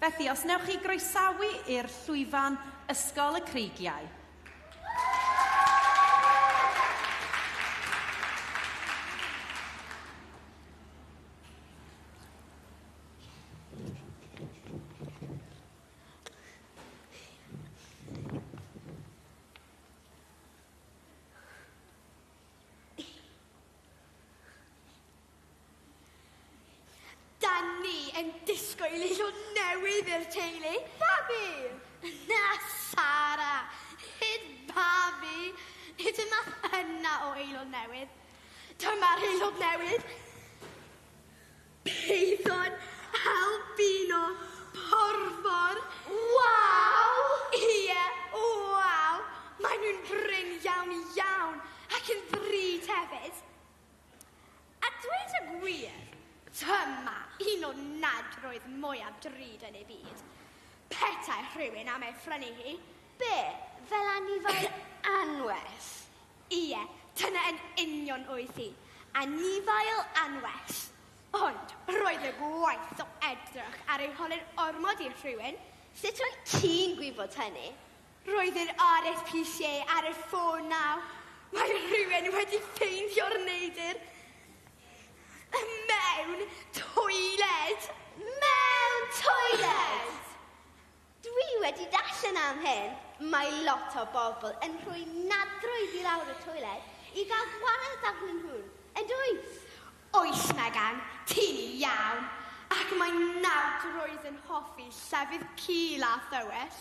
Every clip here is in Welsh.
Felly, os newch chi groesawu i'r llwyfan Ysgol y Creigiau. Da ni yn disgwyl i llun newydd i'r teulu. Babi! Na, Sara. Nid babi. Nid y math yna o aelod newydd. Dyma'r aelod newydd. Peidon albino porfor. Waw! Ie, waw! Maen nhw'n brin iawn iawn ac yn ddrud hefyd. A dweud y gwir, dyma un o nadroedd mwyaf drud yn ei byd. Petai rhywun am ei phrynu hi, be, fel anifail anwes? Ie, dyna yn union oedd hi, anifail anwes. Ond roedd y gwaith o edrych ar ei holyn ormod i rhywun, sut wyt ti'n gwybod hynny? Roedd yr RSPC ar y ffôn naw. Mae rhywun wedi ffeindio'r neidr! Y mewn toiled! Mewn toiled! Dwi wedi darllen am hyn! Mae lot o bobl yn rhoi nadroedd i lawr y toiled i gael gwared arnyn nhw'n yn dwyt? Oes Megan, ti'n iawn! Ac mae nadroedd yn hoffi llefydd cul a thywys.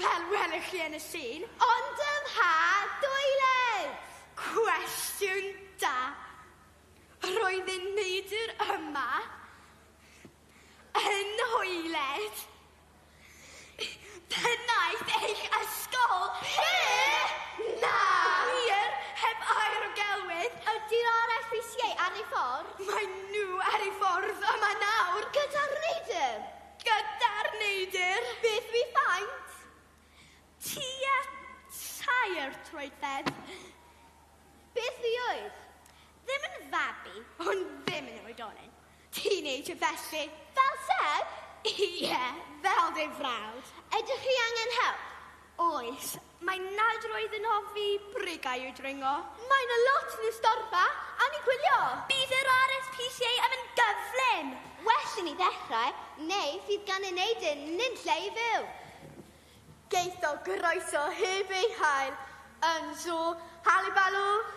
Fel welwch chi yn y llun, ond ym mha doiled? Cwestiwn da. Roedd y neidr yma yn nhoiled pennaeth eich ysgol chi! Na! Wir, heb air o gelwydd! Ydi'r RFPCA ar ei ffordd? Maen nhw ar eu ffordd yma nawr! Gyda'r neidr? Gyda'r neidr! Beth wi faint? Tua tair troedfedd. Beth wi oedd? Ddim yn fabi, ond ddim yn oedolyn. Teenager felly. Fel Seb? Ie, fel dy frawd. Ydych chi angen help? Oes. Mae nad roedd yn hoffi brigau i'w dringo. Mae yna lot yn y storfa am i gwylio. Bydd yr RSPCA am yn gyflym. Well i ni ddechrau, neu fydd gan y neidr nunlle i fyw. Geith o groeso heb ei hael yn Sŵ Halibalŵ.